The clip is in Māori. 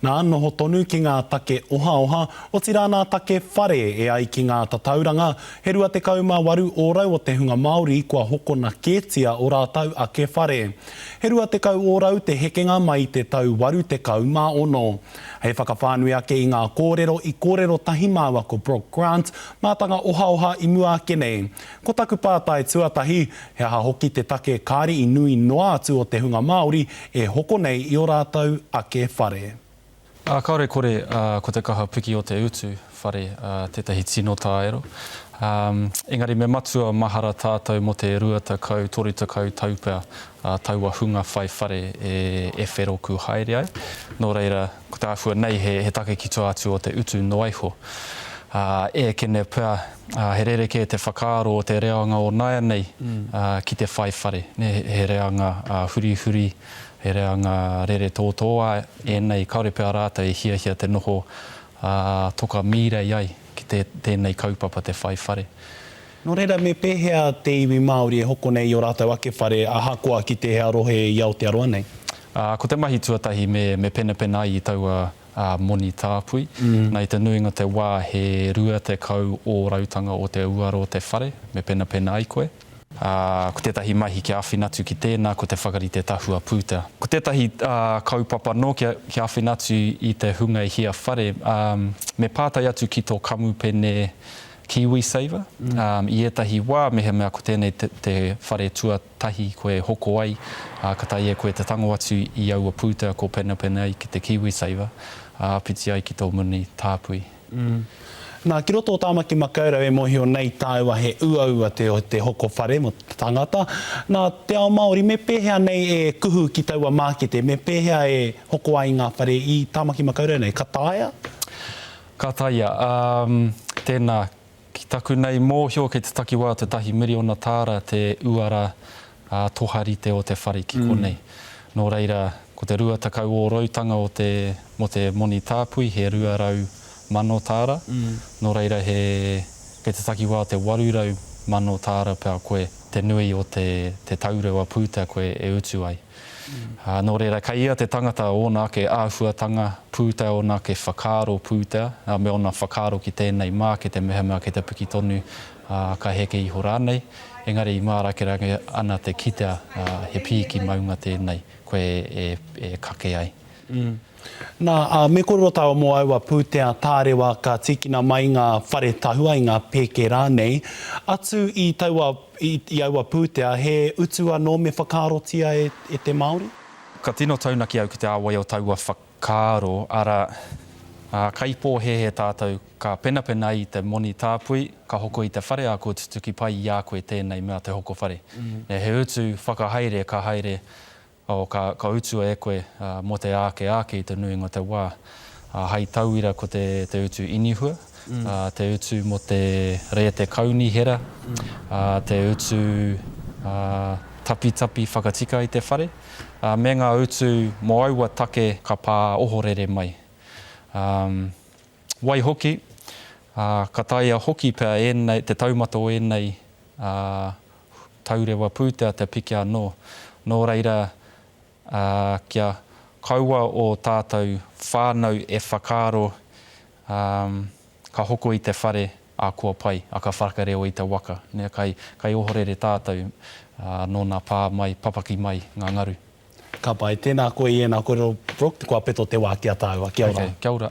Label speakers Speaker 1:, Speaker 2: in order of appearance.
Speaker 1: Nā, noho tonu ki ngā take ohaoha, otirā nā take whare e ai ki ngā tatauranga, he 28 ōrau o te hunga Māori kua hokona kētia o rātou ake whare. He 20 ōrau te hekenga mai i te tau 86. Hei whakawhānui ake i ngā kōrero i kōrero tahi māua ko Brooke Grant, mātanga ohaoha i mua ake nei, Ko taku pātai tuatahi, he aha hoki te take kāre i nui noa atu o te hunga Māori e hoko nei i o rātou ake whare? Ā, kāore
Speaker 2: kore, ā, ko te kaha piki o te utu whare, ā, tētahi tino tāero. Ā, engari me matua mahara tātou mō te rua tekau, toru tekau tau pea, ā, taua hunga whai whare e, e wheroku haere ai. Nō reira, ko te āhua nei he, he take ki tua atu o te utu noa iho. Ā, e eke nei pea, He rerekē te whakaaro o te reanga o nāianei ki te whai whare. He reanga hurihuri, he reanga rere tōtōā ēnei, kāore pea rātou e hiahia te noho toka mīrei ai ki tēnei kaupapa te whai whare. Nō reira, me
Speaker 1: pēhea te iwi Māori e hoko nei i ō rātou ake whare ahakoa ki tēhea rohe i Aotearoa nei? Ko te mahi
Speaker 2: tuatahi me penapena ai i taua ā, moni tāpui. Na, i te nuinga o te wā, he rua tekau ōrautanga o te uara o te whare, me penapena ai koe. Ā, ko tētahi mahi kia āwhina atu ki tēnā, ko te whakarite tahua pūtea. Ko tētahi kaupapa nō kia, kia āwhina atu i te hunga e hia whare, ā, me pātai atu ki tō kamupene KiwiSaver. I ētahi wā, mehemea ko tēnei te, te whare tua, tahi koe hoko ai, ā, ka taea koe te tango atu i aua pūtea ko Penepenei ki te KiwiSaver, ā, whiti ai ki tō muni tāpui. Mm.
Speaker 1: Nā, ki roto o Tāmaki Makaurau e mōhio nei tāua he uaua te te hoko whare mō te tangata. Nā, te ao Māori, me pēhea nei e kuhu ki taua mākete, me pēhea e hoko ai ngā whare i Tāmaki Makaurau nei, ka taea? Ka
Speaker 2: taea, ā, tēnā, Ki taku nei mōhio kei te takiwā te tahi miriona tāra te uara ā-toharite o te whare ki konei. Nō reira, ko te rua tekau ōroutanga o te mō te moni tāpui he rua rau mano tāra, nō reira he kei te takiwā te waru rau mano tāra pea koe te nui o te te taurewa pūtea koe e utu ai. Nō reira, kei ia te tangata ōna ake āhuatanga pūtea, ōna ake whakaaro pūtea, me ōna whakaaro ki tēnei mākete mehemea kei te piki tonu, ka heke iho rānei, engari i mārakerake ana te kitea he pīki maunga tēnei koe e kake ai. Nā,
Speaker 1: ā, me kōrero tāua mō aua pūtea tārewa ka tīkina mai ngā whare tahua i ngā pēke rānei. Atu i taua, i, i aua pūtea, he utu anō me whakaarotia e, e te Māori? Ka tino
Speaker 2: taunaki au ki te āwai o taua whakaaro, arā, ā, kai pōhēhē tātou, ka penapena i te moni tāpui, ka hoko i te whare ā kua tutuki pai i a koe tēnei mea te hoko whare. He utu whakahaere ka haere O, ka, ka utua e koe, ā, mō te āke āke i te nuinga o te wā. Ā, hei tauira ko te, te utu inihua, ā, te utu mō te rēte kaunihera, ā, te utu, ā, tapitapi whakatika i te whare, ā, me ngā utu mō aua take ka pā ohorere mai. Ā, waihoki, ā, ka taea hoki pea ēnei, te taumata o ēnei, ā, taurewa pūtea te piki anō. Nō reira, ā, kia kaua ō tātou whānau e whakaaro, ā, ka hoko i te whare, ā, kua pai, ā, ka whakareo i te waka, nē, kai, kai ohorere tātou, ā, nō nā pā mai, papaki mai ngā ngaru. Ka
Speaker 1: pai. Tēnā koe i ēnā kōrero, Brooke, kua peto te wā ki a tāua. Kia ora. Okay, kia ora.